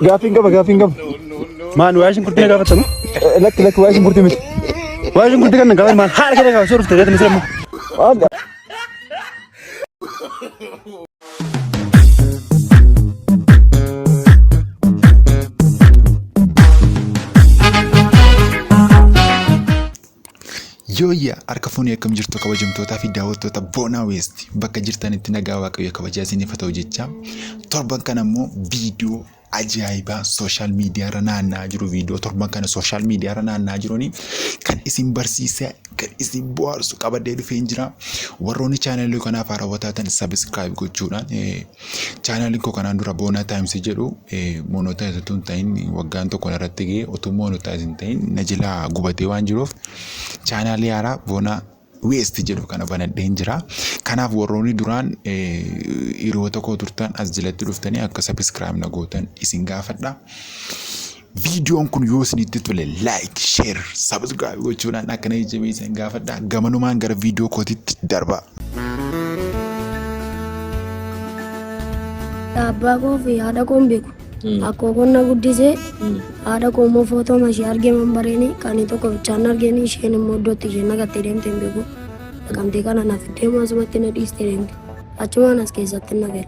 Gaafiin qaba gaafiin qaba. Maal waa'ee shunkurtii na gaafatta moo? Lakki lakki waa'ee shunkurtii miti. Waa'ee shunkurtii kan na gaafatan maal haala kana gaafachuu dhufte reetu misee immoo. Yooyyaa harka fuunee akkam jirtu kabajamtootaa fi daawwattoota Boonaa Weest bakka jirtanitti nagaa waaqayyo kabajaa isiniif haa ta'u jecha torban kana immoo viidiyoo ajaa'ibaa sooshaal miidiyaa irra naanna'aa jiru viidiyoo torban kana sooshaal miidiyaa irra naanna'aa jiruun kan isin barsiisaa kan isin bohaarsu qabadee dhufeen jira warroonni chaanalii kanaaf haarawwataa ta'an sabiskiraayib gochuudhaan Chaanaalin koo kanaan dura boonaa taayimsi jedhu moonotaayiz utuu hin ta'in waggaan tokko narratti ga'e utuu moonotaayiz hin ta'in na jalaa gubatee waan jiruuf chaanaalii haaraa boonaa weesti jedhu kana banadheen jira. Kanaaf warroonni duraan hiriyoota koo turtan as jalatti dhuftanii akka sabiskiraayib na gootan isin gaafadha. Viidiyoon kun yoo isinitti tole like, share, subscribe gochuudhaan akka na jajjabeessan gaafadha. Gamanumaan gara viidiyoo kootitti darba. Abbaa koo fi haadha koo hin beeku. Akkoo kun na guddisee haadha koo immoo footoo mashee argee man bareeni kan tokko bichaan argeen isheen immoo iddootti isheen naqattee deemte hin beeku. Naqamtee kana naaf deemu asumatti na dhiistee deemte. Achumaan as keessatti na gale.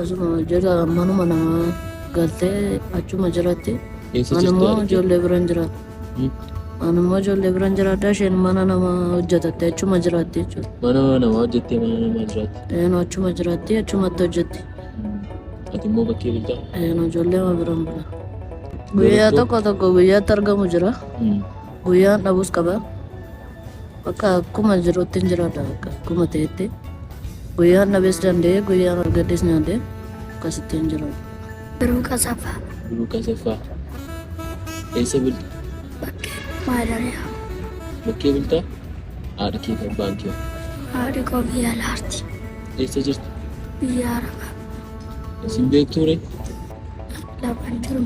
Asuma jala manuma namaa galtee achuma jiratti. Eessa jirti Anammoo argee? ijoollee biran jira. Anammoo ijoollee biran jiraadha isheen mana nama hojjetatte achuma jiraatti jechuudha. Mana namaa hojjettee mana namaa jiraatti. Eenu achuma jiraatti achumatti hojjetti. Ati immoo bakkee bultaa? Eenu ijoollee ma biran bula. Guyyaa Garuu- tokko tokko guyyaatti argamu jira. Guyyaan dhabus qaba. Bakka akkuma jirutti hin jiraadha bakka akkuma ta'etti guyyaan dhabees danda'ee guyyaan argadhees nyaadhee akkasitti hin jiraadha. Biruu Qasaffaa. Biruu Qasaffaa. Eessa bulta? Bakkee Maadariyaa. Bakkee bulta? Haadha kee fi abbaan kee. Haadhi koo biyya laarti. Eessa jirti? Biyya Arabaa. Isin beektuu ree? Laafaan jiru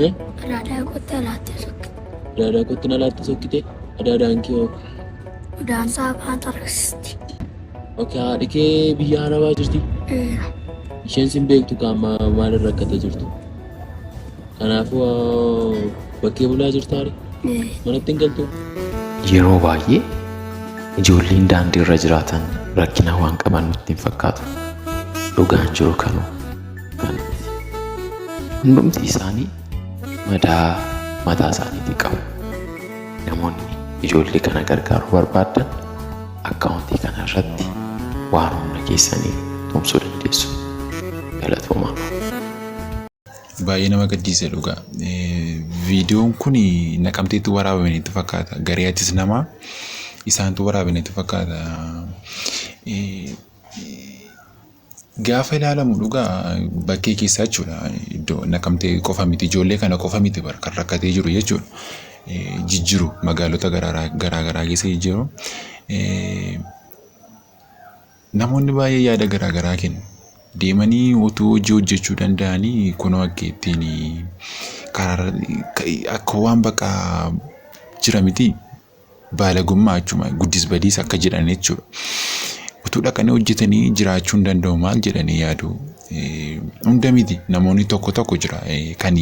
Eh? adaadaa qottee laattee sokke. Adaadaa kootti na laattee sokkite. Adaadaan kee hoo? Udaan isaa afaan tarreessisti. Oke haadhi kee biyya arabaa jirti. Eera. Isheen sin beektu kaa amma maal irra akkata jirtu. Kanaafuu ah, bakkee bulaa jirtaare. Ee. Manatti hin galtu. Yeroo baay'ee ijoolleen daandii irra jiraatan rakkina waan qaban nutti hin fakkaatu. Dhugaan jiru kanuma. Hundumti isaanii madaa mataa isaaniitii qabu. Namoonni ijoollee kana gargaaruu barbaaddan akkaawuntii kana irratti waan humna keessanii tumsuu dandeessu. Galatoomaa. Baay'ee nama gaddisiisa dhugaa. Eh, Viidiyoon kun naqamteetti waraabame natti fakkaata. Garee atis namaa isaantu waraabame natti fakkaata. Eh, Gaafa ilaalamu dhugaa bakkee keessaa jechuudha. Iddoo nakamtee qofa miti ijoollee kana qofa miti bar kan rakkatee jiru jechuudha. Jijjiru magaalota garaa garaa keessa jijjiru. Namoonni baay'ee yaada garaa garaa kennu. Deemanii utuu hojii hojjechuu danda'anii kunoo akka ittiin karaa akka waan bakka jira miti. Baalagummaa jechuun guddis badiis akka jedhan jechuudha. Utuu dhaqanii hojjetanii jiraachuu hin danda'u maal jedhanii yaadu. Hunda miti namoonni tokko tokko jira kan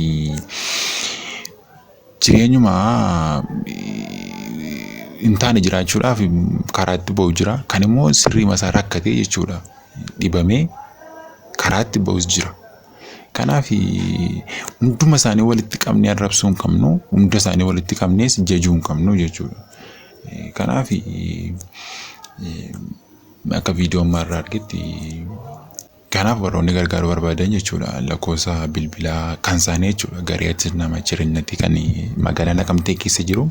jireenyuma hin taane jiraachuudhaaf karaatti ba'u jira. Kan immoo sirriima isaa rakkatee jechuudha dhibamee karaatti ba'us jira. Kanaaf hunduma isaanii walitti qabnee arrabsuu hin qabnu, hunda isaanii walitti qabnees jajuu hin qabnu jechuudha. Kanaaf akka viidiyoo ammaa irraa argetti kanaaf warroonni gargaaruu barbaadan jechuudha lakkoofsa bilbilaa kan isaanii jechuudha garee achi nama jireenyatti kan magaalaa naqamtee keessa jiru.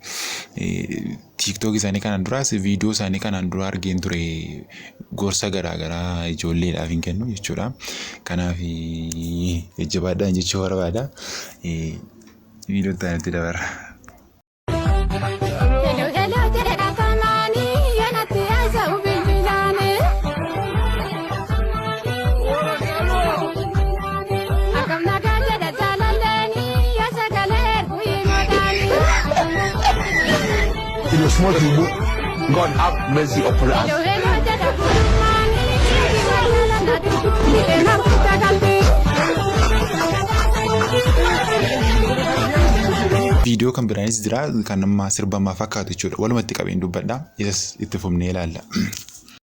tiiktook isaanii kanaan duraas viidiyoo isaanii kanaan dura argeen ture gorsa garaagaraa ijoolleedhaaf hin kennu jechuudha. Kanaaf jajjabaadhaan jechuu barbaada. Viidiyoo itti aanutti dabarra. In your small tubu, God have mercy upon us. Viidiyoo kan biraanis jira kan amma sirbamaa fakkaatu jechuudha. Walumatti qabeen dubbadha. Isas itti fufnee ilaalla.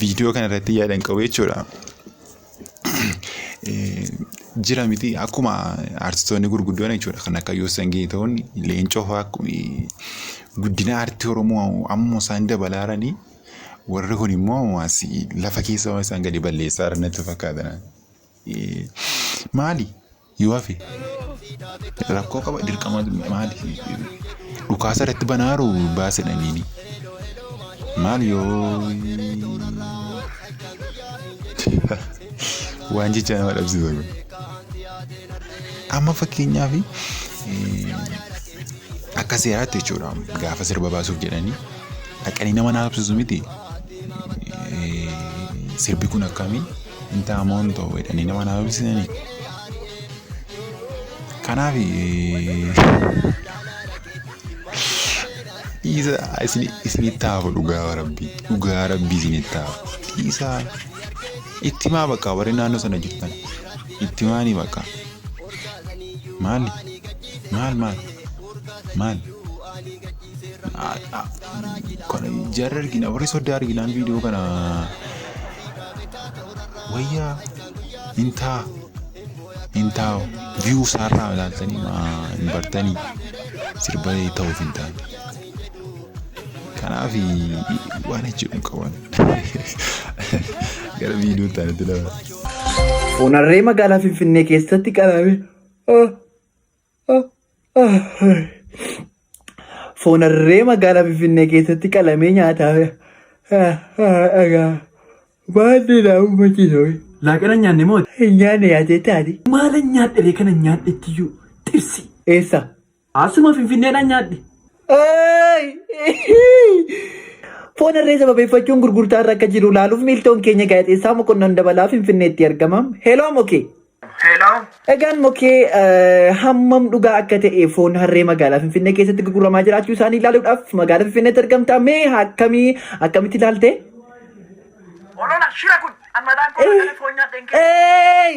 Viidiyoo kanarratti yaadan qabu jechuudha. Jira miti akkuma artistoonni gurguddoon jechuudha kan akka Yoosan Geetahuun leencoo fa'aa guddina aartii Oromoo amma isaan dabalaa jiranii warri kun immoo lafa keessa waan isaan gadi balleessaa jiran natti fakkaata. Eh, maali yoo hafe rakkoo qaba dirqama maali dhukaasa irratti banaaru baasedhaniini maali yoo waan jecha nama dhabsiisa kun amma fakkeenyaaf eh, akka seeraatti jechuudha gaafa sirba baasuuf jedhanii dhaqanii nama naasofsiisu miti Eh, sirbi kun akkamii intaa moontoo jedhanii nama naa dubbisanii kanaaf dhiisa isinitti haafu dhugaa rabbii dhugaa rabbii isinitti haafu dhiisa itti maa bakka warri naannoo sana jirtan itti maanii bakka maali maal maal maal Jarri argina warri soddaa arginaan viidiyoo kana wayyaa hin taa hin taa'u viyuu isaarraa ilaaltanii hin bartanii sirba ta'uuf hin taane. Kanaaf waan jechuun qaban gara viidiyoo taanatti lama. Onarree magaalaa Finfinnee keessatti qalame. Foon harree magaalaa Finfinnee keessatti qalamee nyaataa dhagaa baadhee naa uummachiisa. Laaqana nyaanne moo? Nyaanne yaadee taate. Maala nyaadhiree kana nyaadhettiyyuu xirsi. Eessa? Asuma Finfinneedhaan nyaadhe. Foon harree sababeeffachuun gurgurtaa irra akka jiru ilaaluuf miiltoon keenya gaazexeessaa mokonnon dabalaa Finfinneetti argama. Heloo mokee. Hello. Egaan mokee eh, hammam dhugaa akka ta'e foon harree magaalaa Finfinnee keessatti gurguramaa jiraachuu isaanii ilaaluudhaaf magaalaa Finfinneetti argamta. Mee akkamii akkamitti ilaalte? Olola shira kun ammataan kun kana foon nyaadhe hin kennu. Eey!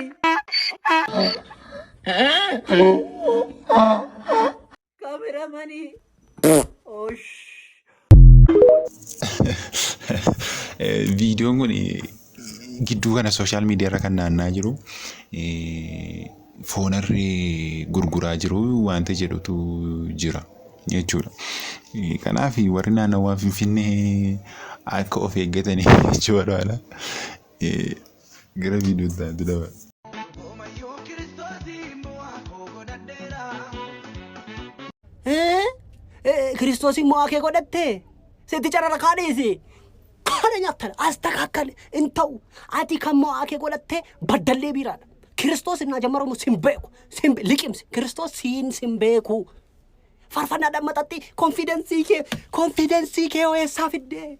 Kamera mani. Osh. Viidiyoon kun gidduu kana sooshaal miidiyaa irra kan naannaa jiru foonarri gurguraa jiru wanta jedhutu jira jechuudha. Kanaaf warri naannawaa Finfinnee akka of eeggatanii jechuu barbaada. Gara viidiyoo itti aantu daba. Hoomayyuu kiristoosiin bu'aa koo godhadheera. Kiristoosiin mo'aa kee godhatte sitti carara kaadhiisi. Kana nyaattan as takaakkale hin ta'u. Ati kan mo'aa kee godhatte baddallee biiraadha. Kiristoos innaa jammaramu sin beeku. Sin be- liqimsi. Kiristoos siin sin beeku. Farfannaadhaan maxatti konfidensii kee konfidensii kee hoo eessaa fiddee?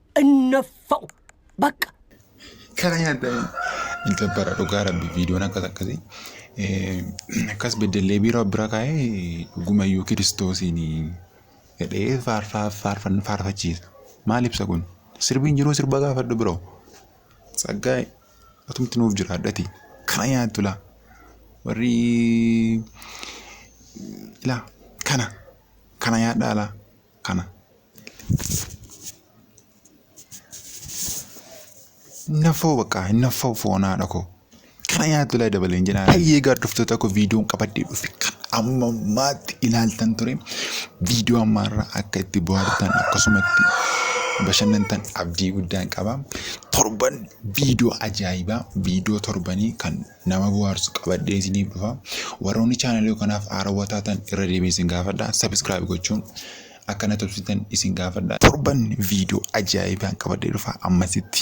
innaffa'u baqqa. Kana nyaaddaa hin gabbara dhugaa rabbi viidiyoon akkas akkasii akkas beddellee biiroo bira kaa'ee dhugumayyuu kiristoosiin jedhee faarfachiisa. Maal ibsa kun? Sirbiin jiruu sirba gaafadhu biroo. Tsaggaa atumti nuuf jiraadhati. Kana nyaattu laa. Warri laa kana kana nyaadhaa laa. kana. Hinnaffoo bakka hinnaffoo foon haadha koo. Kana nyaattu laa dabaleen jedhaa. Baay'ee gaadhoftoota koo viidiyoon qabadhee dhufe kan amma maatti ilaaltan ture. Viidiyoo ammaarraa akka itti bohaartan akkasumatti bashannantan abdii guddaan qaba. Torban viidiyoo ajaa'ibaa viidiyoo torbanii kan nama buhaarsu qabadhee isiniif dhufa warroonni chaanalii kanaaf haarawwa taatan irra deebiin isin gaafadha sabiskiraayib gochuun akka na tubsitan isin gaafadha torban viidiyoo ajaa'ibaan qabadhee dhufa ammasitti.